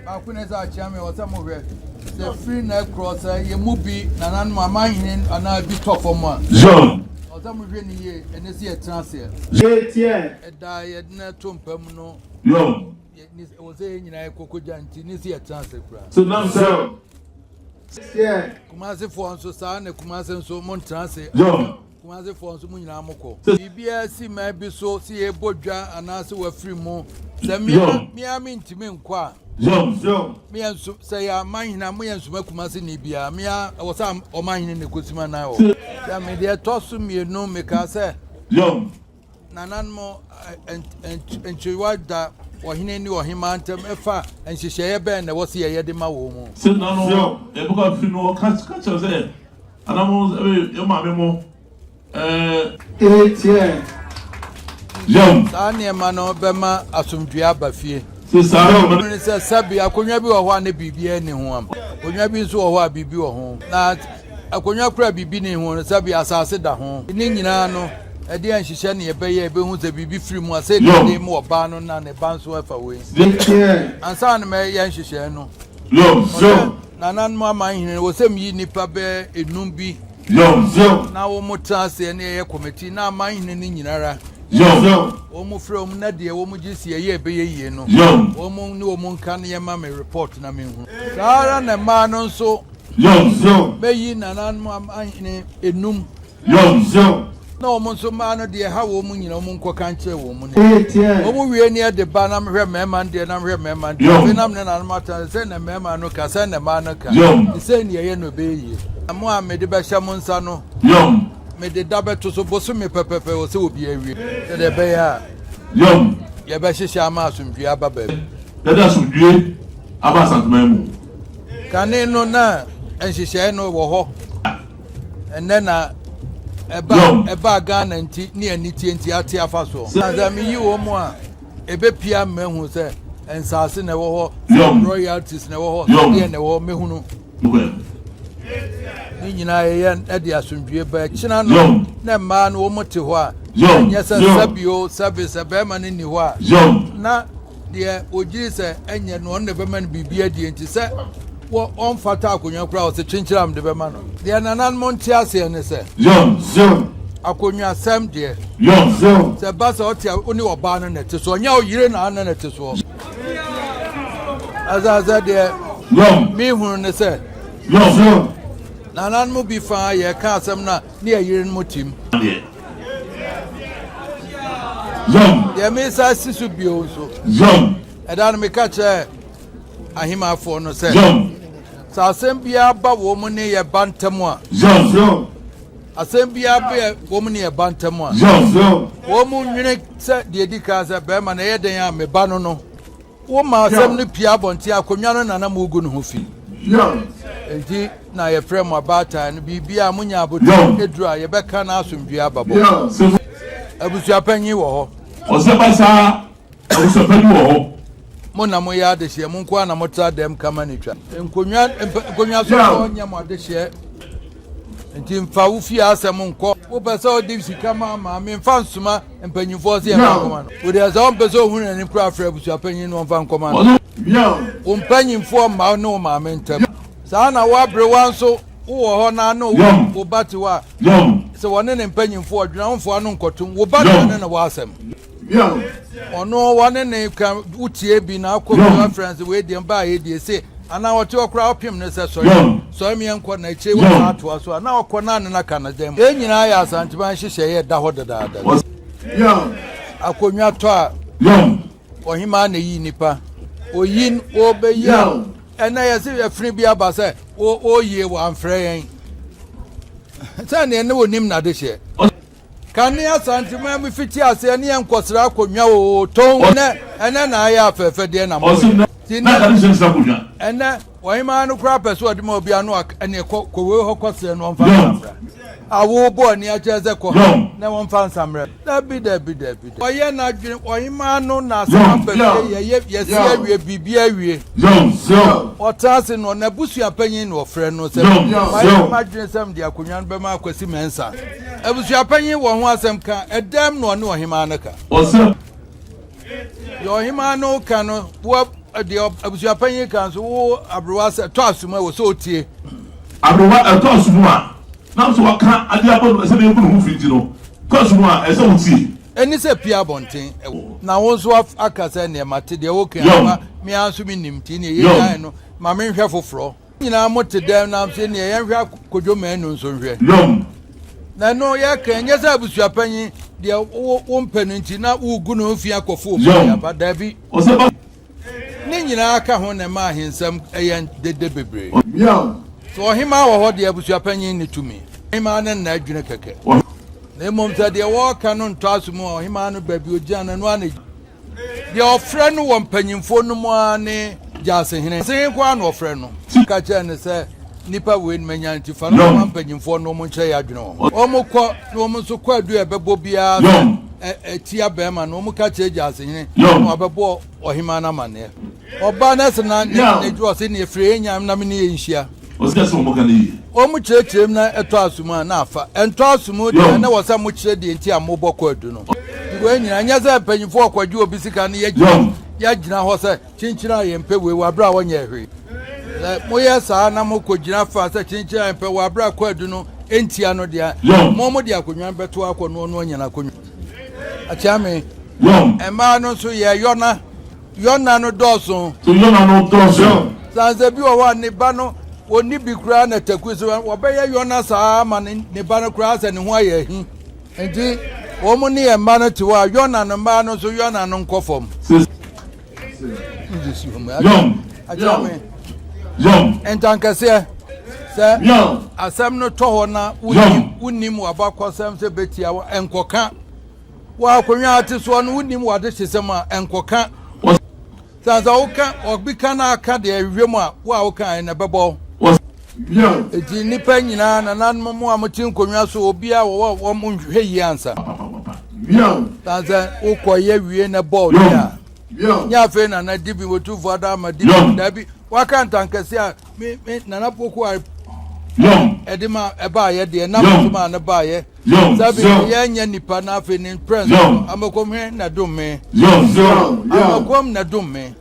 baako na ɛsɛ akyea me ɔsɛ mo hwɛ sɛ firi na ɛkorɔ sɛ yɛ mu bi nananom amanhene anaa bi tɔ fam a zɔn ɔsɛ mo hwɛ ne yie ɛnɛ si ɛtena aseɛ yɛtiɛ ɛda yɛde na ɛto mpa mu no yɔn ɛwɔ sɛ yɛ nyinaa ɛkɔkɔ gya nti ne si ɛtena ase kura so nam sɛ yɛ kumasefoɔ nso saa na kumase nso mo ntena ase yɔn Kumase foɔ nso mo nyinaa mo kɔ. Biribiara si man bi so sɛ yɛbɔ dwa anaasɛ wafiri mu. Sɛ mea mea mentumi nkɔ a, mea nso sɛ yɛ amanhena mo yɛ nsoma Kumase ni biara mea ɛwɔ sɛ ɔmanhene na ɛkɔsi ma nan hɔ. Sɛ mede ɛtɔ so mmienu mekaa sɛ Nananom Nkyerewa Da Ɔhene ne Ɔhemmaa Ntam Ɛfa Nhyehyɛeɛ Bɛn na Ɛwɔ sɛ Yɛyɛ De Ma Wɔn? Sɛ nananom a yɛbɛkɔ afiri no hɔ ka kyerɛ wo sɛ, Anananom sɛ yɛn maame mo eh. Eh teɛɛ Yam. Saa nneɛma no bɛma asomdwoeɛ aba fie. Sɛ saa na ɔbɛn. Mmere no sɛ sɛbe akonnwa bi wɔ hɔ a na biribiara nni ho. Akonnwa bi nso wɔ hɔ a biribi wɔ ho. Na. Akonnwa koro a biribi nni ho no, sɛbe asase da ho. Ne nyinaa no, ɛde yɛn hyehyɛ nea ɛbɛyɛ a yebehu sɛ biribi firi mu a, sɛ nnipa de mu ɔbaa no na ne ba nso fa wei. Ansa na mɛyɛ nhyehyɛe no, ɔsɛ nananom amanhene no, wɔsɛ miyi nnipa bɛyɛ nnum bi na wɔtra ase na yɛyɛ kɔmiti, na amanhene no nyina ara wɔfrɛ wɔn, na deɛ wɔgye si ɛyɛ a ɛbɛyɛ yie no, wɔn ne wɔn nka na yɛmma me repɔɔto na menhunu. Saa ara na mmaa no nso. Yom Zeo. Mɛyi nananom ahene enum. Yom Zeo. Na wɔn nso mmaa no deɛ ɛha wɔn nyina wɔn nkɔka nkyerɛ wɔn mu ne. Wɔn wie neɛ de ba na mehwɛ mmarima no deɛ na mehwɛ mmarima no deɛ. Afei na me ne nananom atena sɛ, sɛdeɛ mmarima no ka, sɛdeɛ na mmaa no ka. Yom. Sei na yɛyɛ na ɛbɛyɛ yie. Na mo a mede bɛhyɛ mo nsa no. Yom. Mede da bɛto so bosome pɛpɛpɛ wɔ sɛ obiara wie. Sɛdeɛ ɛbɛyɛ a. Yom. Yɛbɛhyehyɛ ama asomdwoeɛ aba baabi. Yɛde asomdwoeɛ aba asaseman mu. Kane no na nhyehyɛe no wɔ hɔ a, ɛnnɛ na ɛba ɛbaa Ghana nti ne anitie nti ate afa so. Na sɛ meyi wɔn mu a, ɛbɛpia mmahu sɛ nsaase na ɛwɔ hɔ, sɛ royalties na ɛwɔ hɔ, sɛ deɛ na ɛwɔ hɔ, mɛhunu. Ne nyinaa yɛyɛ ɛde asomdwie ba akyina no na mmaa no wɔn te hɔ a, ɛnyɛ sɛ sɛbio sɛbe sɛ bɛrima no nni hɔ a, na deɛ ɔgyiri sɛ ɛnyɛ no ɔno na ɛbɛma no biribi adie nti sɛ ɔmfata akonnwa koraa ɔsɛ kyinkyiram de bɛma no deɛ nananom nte aseɛ ne sɛ akonnwasɛm deɛ sɛ ba sɛ ɔte a wone ɔbaa no na ɛte soɔ nyɛ ɔyere na ana na ɛte soɔ ɛsɛ sɛ deɛ mehunu ne sɛ nananom bi faa yɛka asɛm no a ne yɛn yerenom tim. Yom. Deɛ mesa si so bio nso. Yom. Ɛda no meka kyerɛ ahemafoɔ no sɛ. Yom. Sɛ asɛm biara ba wɔn ne yɛ ba ntam a. Yom. Yom. Asɛm biara bɛ wɔn ne yɛ ba ntam a. Yom. Yom. Wɔn nwene sɛ deɛ di kan sɛ bɛrima na ɛyɛ dɛn a meba no no. Woma asɛm no pue abɔnten, akonnwa no na na mugu no ho fi. Enti na yɛfrɛ mo abaatan no, biribiara a munya abotiri aduru a, yɛbɛka na asomdwoe aba. Bɔ abusuapanyin wɔ hɔ. Ɔsɛ basaa, abusuapanyin wɔ hɔ. Mo na moyɛ adehyeɛ, mo nko ara na motra dɛm kama na twa. Nkonnwa nkonnwa so na ɔnyɛ mo adehyeɛ, enti mfa wo fie asɛm nkɔ. Wopɛ sɛ ɔde sika ma a, ma. Memfa nsoma. Mpanyimfoɔ se yɛmfa nkɔma no. Odeɛ sɛ ɔmpɛ sɛ ohunu n'ani koraa frɛ abusuapanyin no ɔmfa nkɔma no. Wo mpanyimfoɔ mma wo ne wo maame ntam. Saa ara na wo aberewa nso, wowɔ hɔ na ne wo ba te hɔ a, sɛ ɔne ne mpanyimfoɔ dwene a, womfa ɔno nkɔtom. Wo ba na ɔne no wɔ asɛm. Ɔno, ɔne no ka, wotie bi na akɔ fie afrɛ no sɛ, Wei deɛ, mebaa ha yi deɛ, se. Ana ɔte hɔ koraa ɔpem no sɛ sɔre sɔre me yɛnkɔ na akyire yi wasan atoa so a na ɔkɔ na ne na ka ne dan mu. Yei nyinaa yɛ Asanteman nhyehyɛeɛ a ɛda hɔ dedaada no. Akonnwa tɔ a Ɔhemaa na ɛyi nnipa. Oyin wɔbɛyi a ɛnɛ yɛse afiri bi aba sɛ wɔyie wɔ amfrɛ yɛn sɛ neɛ ne wɔnim n'adehyeɛ. Kan ne Asanteman mu fiti aseɛ ne yɛn nkɔsra akonnwa oo tong nɛ ɛnɛ na ayɛ afɛɛfɛ deɛ na moyɛ ti nɛ ɛnɛ ɔhemaa no koraa pɛ sɛ ɔde ma obi ano ɛneɛ kɔ kowei hɔ kɔsrɛ no ɔmfa nsammerɛ awo bɔ ani akyerɛ sɛ kɔ ha na wɔmfa nsammerɛ dabi dabi dabi ɔyɛ n'adwene ɔhemaa no na asɛm aba fie yɛyɛ yɛsi awie biribi awie ɔtena ase no n'abusua panyin na ɔfrɛ no sɛ mayɛ m'adwene sɛ mede akonnwa no bɛma akwasi mɛnsa Abusuapanyin wɔ ho asɛm ka, ɛdɛm na ɔne ɔhemaa no ka? Ɔsɛ. Deɛ ɔhemaa no ka no, wo deɛ abusuapanyin ka nso, wo aberewa sɛ ɛtɔ asom a, wɔ sɛ ɔtie. Aberewa ɛtɔ asom a, nam sɛ waka adeɛ abɔ no sɛdeɛ ɛgu ne ho fi nti no, ɛtɔ asom a, ɛsɛ sɛ wotie. Ɛne sɛ pie abɔnten, na wo nso aka sɛ, neɛ mate deɛ woka, me ara nso mennim, nti neɛ yɛnyae no, ma menhwɛ foforɔ. nyinaa mo te dɛm na afei neɛ yɛnhwɛ akodwo manu nso nhwɛ nom na ɛno yɛka ɛnyɛ sɛ abusua panyin deɛ wo mpɛ no nti na wogu no mfi akɔfo obi aba daabi ne nyinaa ka ho na ɛma ahensɛm ɛyɛ dede bebree sɛ ɔhemaa wɔ hɔ deɛ abusua panyin ne tumi ɔhemaa ne nna adwene kɛkɛ na mmom sɛ deɛ wɔka no ntɔ aso mu ɔhemaa no baabi ogyina no ɛno a na Deɛ ɔfrɛ no wɔ mpanyimfoɔ no mu ara ne Gyasehene. Gyasehene nko ara na ɔfrɛ no. Ka kyerɛ no sɛ, Nnipa wei nom anya nti, fa no kɔma mpanyimfoɔ no na wɔn nkyerɛ yɛn adwene wɔ ho. Wɔn kɔ, na wɔn nso kɔ adu a ɛbɛbɔ biara sɛ ɛtia barima no, wɔn ka kyerɛ Gyasehene, na wabɛbɔ ɔhemaa no amanneɛ. Ɔbaa no sɛ na n'adwuma wɔ sɛ, Nea ɛfiri yɛn nyanom na me ne yɛn nhyia. Ɔsɛ sɛ wɔka no yiye. Wɔn mu kyerɛkyerɛ mu na ɛtɔ aso mu a, na afa. Ɛntɔ aso mu deɛ a, na ɛwɔ sɛ mokyerɛ deɛ nti a mobɔ kwadu no. Wei nyinaa, ɛnyɛ sɛ mpanyimfo a wɔkɔgye obi sika no yɛgyina yɛagyina hɔ sɛ, Kyenkyen a yɛmpɛ wei wɔ bere a wɔnyɛɛ hwee. Sɛ moyɛ saa na mokogyina fa sɛ, Kyenkyen a yɛmpɛ wɔ bere a kwadu no ntia no deɛ a, mo a mode akonnwa no bɛtow akɔ no, ɔno anya n'akonnwa. Akyeame. Mmaa no nso, yɛyɔ na. Yona no dɔɔso. So Yona no dɔɔso? Sansɛ bi wɔ hɔ a ne ba no wɔnni bi koraa na taku so wɔbɛyɛ Yona saa ara ma ne ba no koraa sɛ ne ho ayɛ ahi. Nti wɔn ne yɛn mma no te hɔ a Yona no mmaa no nso Yona no nkɔ fam. Yom. Yom. Ntankɛseɛ. Sɛ asɛm no tɔ hɔ na wonim w'abakɔsɛm sɛ bɛtia wo, nkɔka. Wɔ akonnwa a ate soɔ no, wonim w'adehyesɛm a, ɛnkɔka wo. Sane sɛ woka obi ka na aka deɛ ɛhwehwɛ mu a, wo a wokaeɛ no, ɛbɛbɔ wo. Enti nnipa nyinaa, nananom, mo a mote nkonnwa so, obiara wɔ hɔ a wɔn nhwehwɛ yie ansa. Sane sɛ wokɔeɛ wie na ɛbɔ wo deɛ a, nyɛ afei na na Dibim Otumfoɔ ada ama Dibim. Dabi, waka ntankɛseɛ a me, me, Nana Poku I, ɛde ma ɛbaeɛ deɛ, na me nso maa no baeɛ. Sabi ne yɛn nyɛ nipa na afei ne mprɛn so no amakɔm he na dom me. Amakɔm na dom me.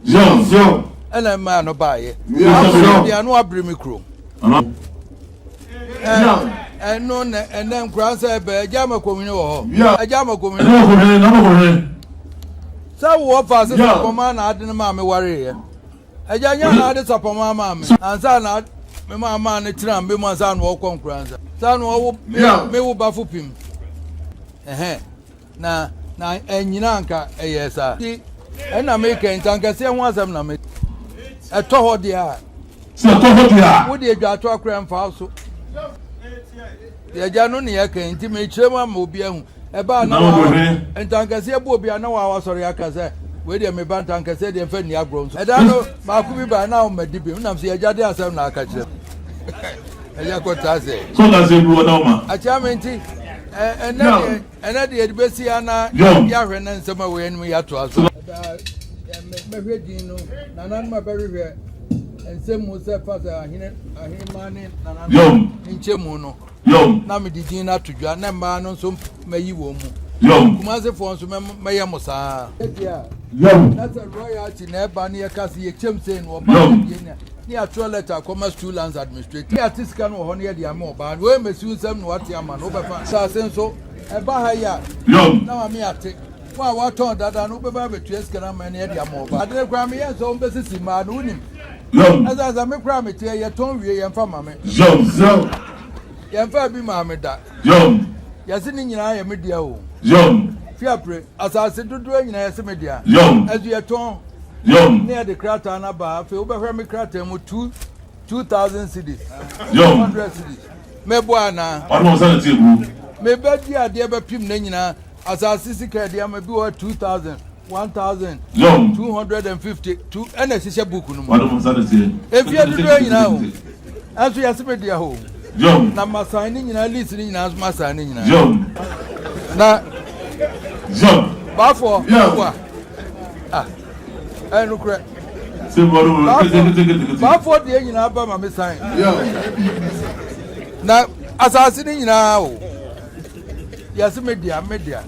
Ɛna mmaa no baeɛ. Abrɛ deɛ ano abere me kurom. Ɛno na ɛnɛ nkura nsɛ ɛbɛ agya amakɔm hene wɔ hɔ. Agya amakɔm hene wɔ hɔ. Sɛ wowɔ faase sɛ kɔmaa na ade no maa me wareeɛ. Agya nya na ade sapama ama me ansa na me ma ama ne tena mbe mu ansa na ɔkɔ nkura nsa saa na ɔwo me wo bafo pim ɛhɛn na na ɛnyina anka ɛyɛ saa ti ɛna me kɛn nti ankɛseɛ ho asɛm na me ɛtɔ hɔ deɛ a sɛ ɛtɔ hɔ deɛ a wode adwa ato akora mfa so yɛgya no ne yɛkɛn nti mekyerɛ mu ama obi ahu Ɛbaa na wɔawa ntankɛseɛ boɔ bi a na wɔawa sɔre aka sɛ wei deɛ meba ntankɛseɛ deɛ mfa nni agorɔ nso. Ɛda no baako bi baa na ɔma di bi nam sɛ yɛgya de asɛm na aka kyerɛ ɛyɛ kɔtaa sɛ. Sọ na sɛ ebuo na ɔma. Akyɛ me nti ɛnɛ deɛ ɛnɛ deɛ de bɛsi ana yɛahwɛ na nsɛm a wɔyɛ anim yɛatoa so. Mɛhwɛ din no nananom a bɛhwehwɛ nsɛm mu sɛ fa sɛ ahene ahene ma ne nananom nkyɛmu no. Yom. Na mede din no ato dwa, na mmaa no nso mɛyi wɔn mu. Yom. Kumasefoɔ nso mɛyɛ mo saa. Yom. Na sɛ royalty na ɛba no yɛka sɛ yɛkyɛm sei no ɔbaa no deɛ nya ne yɛatwerɛ letter akɔma school lands administrator ne yɛate sika no wɔ hɔ no yɛde ama ɔbaa no wei mmɛsiw nsɛm na wate ama no wobɛfa saase nso ɛba ha yi a na ma me ate Wo a watɔn dada no, wobɛba abɛtua sika no ama ne de ama wo ba. Ade no koraa meyɛ nsɛ wɔbɛsisi mmaa no, wonim. Zɛw. Ɛsɛ sɛ me koraa mete ɛ, yɛtɔn wie, yɛmfa ma me. Zɛw. Zɛw. Yɛmfaa bi maa me da. Zɛw. Yɛse ne nyinaa yɛ me dea o. Zɛw. Fi apre, asase dodoɔ nyinaa yɛse me dea. Zɛw. Ɛso yɛtɔn. Zɛw. Ne ɛde krataa no aba, afei wobɛhwɛ me krataa mu, two, two thousand cedis. Zɛw. Two hundred cedis. Mɛboa anaa? Ɔno ɔsane te aburo. Mebɛdi adeɛ bɛpem ne nyinaa. Asase sika a yɛde ama bi wɔ hɔ two thousand, one thousand, two hundred and fifty two ɛna ɛhyehyɛ book no mu. Mfeɛ dodoɔ nyinaa o. Ɛnso yɛse me deɛ o. Na masan ne nyinaa list ne nyinaa nso masan ne nyinaa. Na baafoɔ bua ah ɛyɛ nokorɛ. Baafoɔ deɛ nyinaa ba ma me san. Na asase ne nyinaa o. yɛse me dea me dea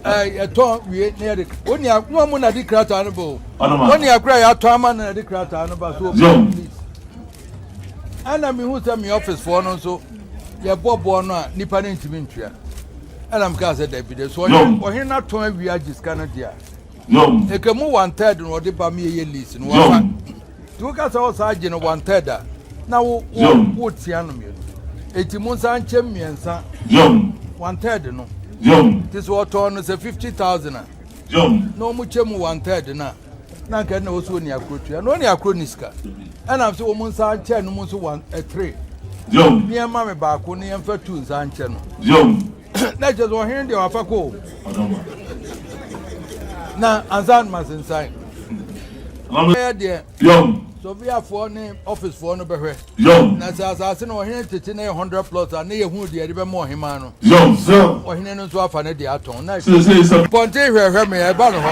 yɛtɔ wie na yɛde onua wɔn mu na de krataa no bɔ onua kura yɛatɔ ama na de krataa no ba so obi please ɛna mehu sɛ me office foɔ no nso yɛbɔ boɔ no a nipa no ntumi ntua ɛna mekaa sɛ dabi de so ɔhene no atɔn awie agye sika no deɛ a ɛka mu one third na ɔde ba meyɛyɛ lease no wafa Nti woka sɛ ɔsa agye no one third a, na wo wo wotia no mmienu. Eti mo nsa nkyɛm mmiɛnsa one third no. Nti sɛ ɔtɔn no sɛ fifty thousand a, na wɔn kyɛ mu one third no a, na nka ɛna wɔsi wɔn ni akoro tua na wɔn ni akoro ni sika. Ɛna nso wɔn nsa nkyɛn no mu nso one eh, three. Nneɛma me baako ne yɛn fɛ two nsa nkyɛn no. na kyerɛ sɛ ɔhene deɛ wafa kɔ na ansa no masensan ɛyɛ deɛ sɔviafoɔ ne ɔficefoɔ no bɛhwɛ na sɛ asase no ɔhene tete na yɛ 100 plot a ne yɛhunu deɛ ɛde bɛma ɔhemaa no ɔhene no nso afa ne deɛ atɔn na pɔnte hwɛhwɛ me ɛba no hɔ